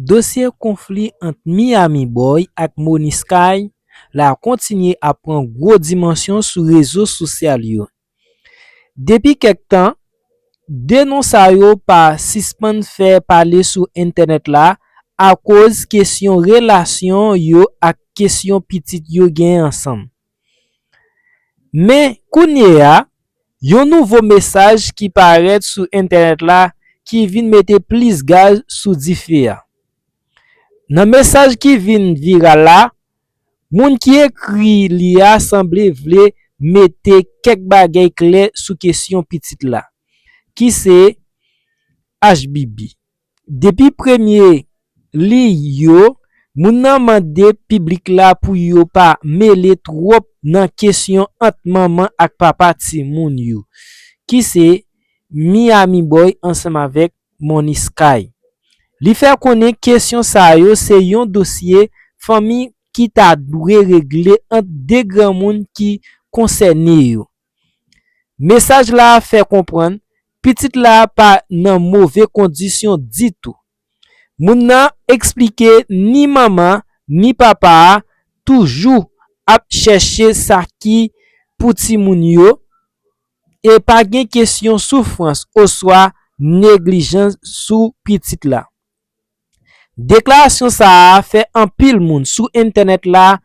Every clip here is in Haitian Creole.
Dosye konfli ant Miami Boy ak Moni Sky la kontinye ap pran gwo dimansyon sou rezo sosyal yo. Depi kèk tan, 2 non sa yo pa sispann fè pale sou entènèt la akoz kesyon relasyon yo ak kesyon pitit yo gen ansanm. Men, kounye a, yon nouvo mesaj ki parèt sou entènèt la ki vin mete plis gaz sou dife a. Nan mesaj ki vin viral la, moun ki ekri li a sanble vle mete kèk bagay klè sou kesyon pitit la, ki se Ashbibi. Depi premye liy yo, moun nan mande piblik la pou yo pa mele twòp nan kesyon ant manman ak papa timoun yo, ki se Miami Boy ansanm avèk Money Sky. Li fè konnen kesyon sa yo se yon dosye fanmi ki ta dwe regle ant 2 granmoun ki konsène yo. Mesaj la a fè konprann pitit la a pa nan move kondisyon ditou. Moun nan eksplike ni manman ni papa a toujou ap chèche sa ki pou timoun yo e pa gen kesyon soufrans oswa neglijans sou pitit la. Deklarasyon sa a fè anpil moun sou entènèt la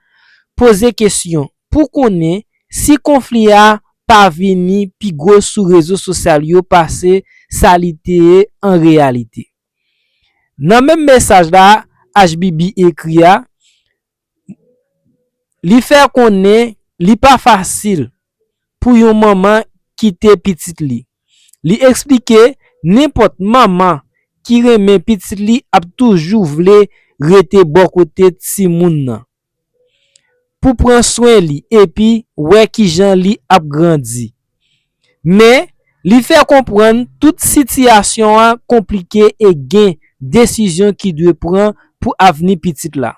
poze kesyon pou konnen si konfli a pa vini pi gwo sou rezo sosyal yo pase sa li te ye an reyalite. Nan menm mesaj la, Ashbibi ekri a, Li fè konnen li pa fasil pou yon manman kite pitit li. Li eksplike nenpòt manman ki renmen pitit li ap toujou vle rete bò kote timoun nan pou pran swen li epi wè kijan li ap grandi. Men, li fè konprann tout sitiyasyon an konplike e gen desizyon ki dwe pran pou avni pitit la.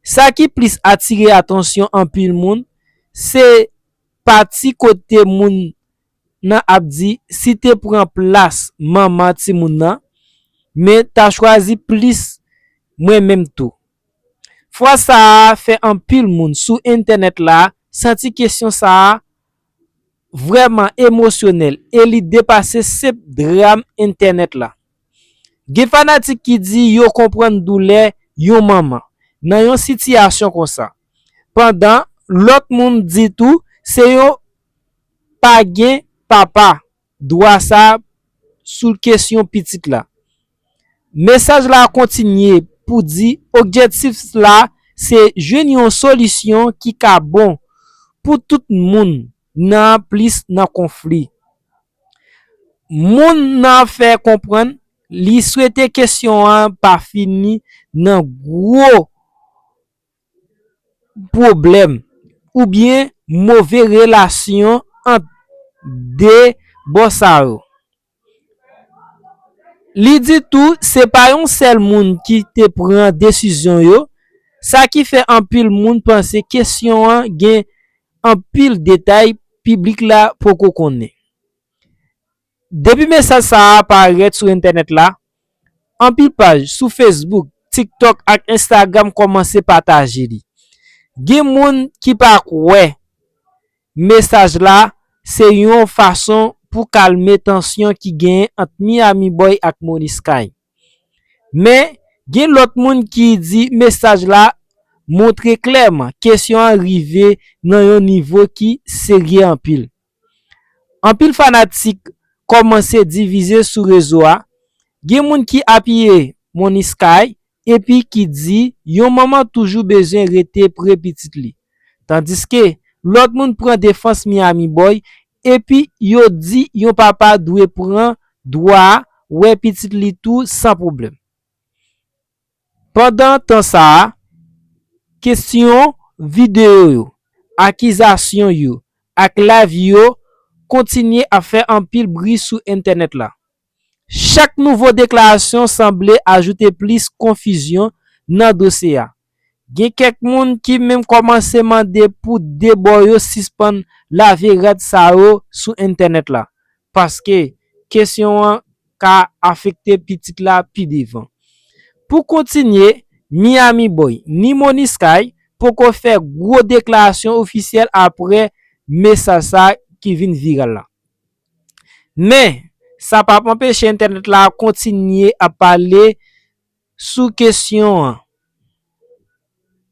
Sa ki plis atire atansyon anpil moun, se pati kote moun nan ap di si te pran plas manman timoun nan, men ta chwazi plis mwen menm tou. Fraz sa a fè anpil moun sou entènèt la santi kesyon sa a vrèman emosyonèl e li depase senp dram entènèt la. Gen fanatik ki di yo konprann doulè yon manman nan yon sitiyasyon konsa, pandan lòt moun di tou se yon pa gen papa Dwa sa sou kesyon pitit la. Mesaj la kontinye pou di okjetif la se jwenn yon solisyon ki ka bon pou tout moun nan plis nan konfli. Moun nan fè konprann li swete kesyon an pa fini nan gwo pwoblèm oubyen move relasyon ant de bò sa yo. Li di tou se pa yon sèl moun ki te pran desizyon yo, sa ki fè anpil moun panse kesyon an gen anpil detay piblik la poko konnen. Depi mesaj sa a parèt sou entènèt la, anpil paj sou Facebook, TikTok ak Instagram kòmanse pataje li. Gen moun ki pa kwè mesaj la se yon fason pou kalme tansyon ki genyen ant Miami Boy ak Moni Sky. Men, gen lòt moun ki di mesaj la montre klèman kesyon an rive nan yon nivo ki serye anpil. Anpil fanatik kòmanse divize sou rezo a, gen moun ki apiye Money Sky epi ki di yon manman toujou bezwen rete pre pitit li. Tandiske, lòt moun pran defans Miami Boy epi yo di yon papa dwe pran dwa wè pitit li tou san pwoblèm. Pandan tan sa a, kesyon, videyo yo, akizasyon yo ak layv yo kontinye ap fè anpil bri sou entènèt la. Chak nouvo deklarasyon sanble ajoute plis konfizyon nan dosye a. Gen kèk moun ki menm kòmanse mande pou 2 bò yo sispann lave rad sa yo sou entènèt la, paske kesyon an ka afekte pitit la pi devan. Pou kontinye, Miami Boy ni Money Sky poko fè gwo deklarasyon ofisyèl apre mesaj sa ki vin viral la. Men, sa pap anpeche entènèt la kontinye ap pale sou kesyon an.